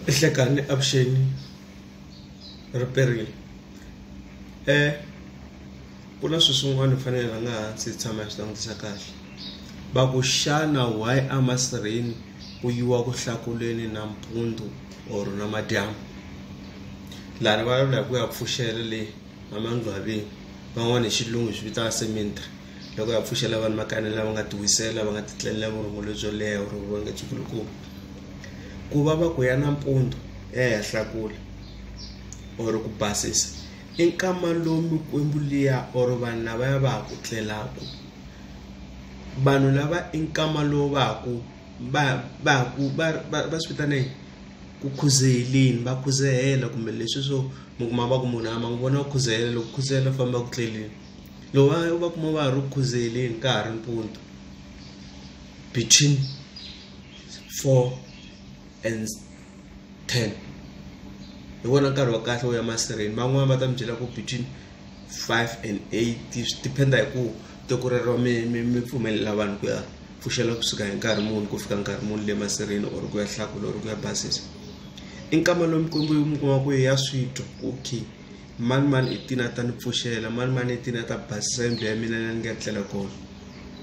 ehlekani avuxeni ri perile e ku na swilo swin'wana hi fanele hi rhanga hansi hi tshama hi swi langutisa kahle va ku xana why emasirheni ku yiwa ku hlakuleni nampundzu or namadyambu lani va vulavula hi ku ya pfuxela le namangcwaveni van'wana hi xilungu hi swi vitana cemetery loko ya pfuxela vanhu makani lava nga tiwisela va nga titlelela vurhongo lebyo leha vurhongo va nga byi kulukumba ku va va ku ya nampundzu ehenhla kule or ku basisa i nkama lowu mikwembu liya or vanhu lava ya va ha ku tlelaku vanhu lava i nkama lowu va ha ku va va ku va va va swi vitana yini ku khuzeheleni va khuzehela kumbe leswi swo mi kuma va ku munhu a ma n'wi vona u khuzelela loko khuzelela u famba ku tleleni. loko va va kuma va ha ri ku khuzeleni ka ha ri mpundzu between four and ten hi wona nkarhi wa kahle wo ya masirheni van'wani va ta mi byela ku between five and eight swi depend hi ku tiko rero mi mi mi pfumelela vanhu ku ya pfuxela kusuka hi nkarhi muni ku fika nkarhi muni le masirheni or ku ya hlakula or ku ya basisa i nkama lowu mi kuma ku ya switwa okay. mani mani i tini a ta ni pfuxela mani mani i tini a ta basisa yindlu ya mina la ni nga tlela kona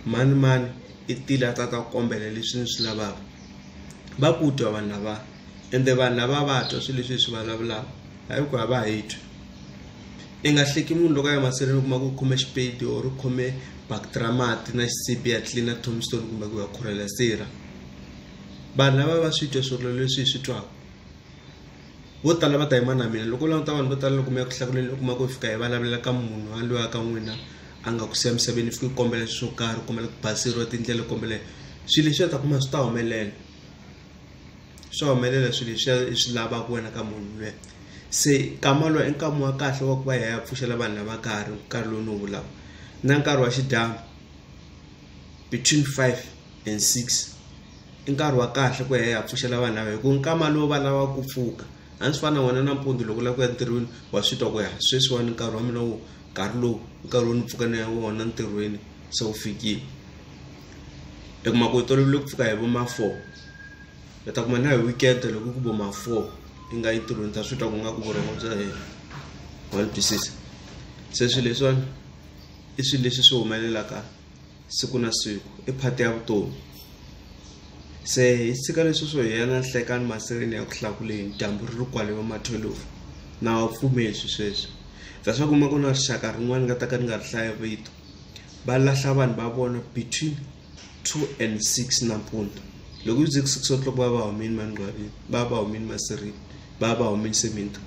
mani mani i tile a ta ta kombela leswi ni swi lavaka va ku twa vanhu lava ende vanhu lava va twa swilo leswi hi swi vulavulaka hayi ku a va ha yi twi i nga hleki munhu loko a ya mahlweni u kuma ku u khome xipedi or u khome bakiti ra mati na xisibi ya tlilina tombstone kumbe ku ya khurhela sirha vanhu lava va swi twa swirilo leswi hi swi twaka Vo tala va ta yima na mina loko u languta vanhu vo tala loko mi ya ku hlakuleni u kuma ku fika hi vulavulela ka munhu a lwiwa ka n'wina a nga ku siya misaveni fika u kombela swo karhi u kombela ku baseriwa tindlela u kombela swilo leswi u ta kuma swi ta humelela swa humelela swilo leswiya i swi lavaka wena ka munhu luya se nkama lowu i nkama wa kahle wa ku va hi ya hi ya pfuxela vanhu lava ka ha ri nkarhi lowu ni wu vulaka na nkarhi wa xidyambu between five. and six i nkarhi wa kahle ku ya ya pfuxela vanhu lava hi ku nkama lowu va lavaka ku pfuka a ndzi fana na wena nampundzu loko u lava ku ya ntirhweni wa swi twa ku ya sweswiwani nkarhi wa mina wu nkarhi lowu nkarhi wo ni pfuka ni ya wona ntirhweni se wu fikile i kuma ku u tolovele ku pfuka hi vo ma four u ta kuma na hi weekend loko ku vo ma four i nga yi ntirhweni ta swi twa ku nga ku vurhongo bya hina wa ni twisisa se swi leswiwani i swi leswi swi humelelaka. siku na siku i phati ya vutomi se hi tshika leswi swo hiya na nhlekani maseleni ya ku hlakuleni dyambu ri ri kwale vamatholovu na wa pfumeli swi sweswi bya swa kuma ku na rixaka rin'wana ni nga ta ka ni nga ri hlaya vito va lahla vanhu va vona between two and six nampundzu loko yi ze ku six o'clock va va humini manqwavini va va humini masirini va va humini seminti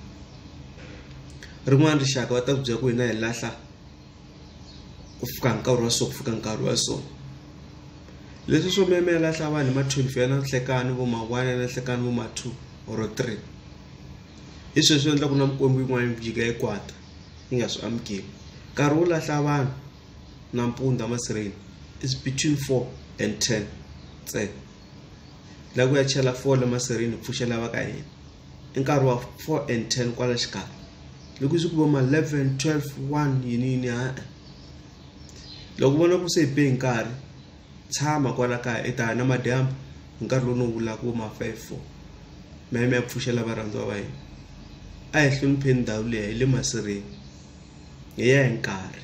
rin'wana rixaka va ta ku byela ku hina hi lahla ku fika nkarhi wa so ku fika nkarhi wa so leswi swo memela hlavani hi ma 12 ya na nhlekani vo ma 1 ya na nhlekani vo ma 2 or 3 hi sweswi swi endla ku na mikwembu yin'wana yi jika yi kwata yi nga swi amukeli nkarhi wo lahla vanhu nampundza masirheni is between 4 and 10 ntsena la ku ya chela fole masirheni pfuxela va ka hina i nkarhi wa 4 and 10 kwala xikarhi loko swi ku vo ma 11 12 1 yini yini ha loko vona ku se be nkarhi tshama kwala kaya i ta na madyambu hi nkarhi lowu no vula ku ma 5 4 ma yime ya pfuxela varhandziwa va hina a hi hlonipheni ndhawu leyi hi le masirheni hi ya hi nkarhi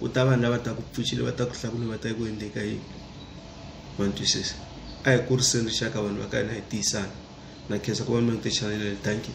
ku ta vanhu lava taka ku pfuxile va ta ku hlakula va ta ku endleka yini ma ni twisisa a hi kuriseni rixaka vanhu va ka hina hi tiyisana na khensa ku va mi ri ti chaneleni thank you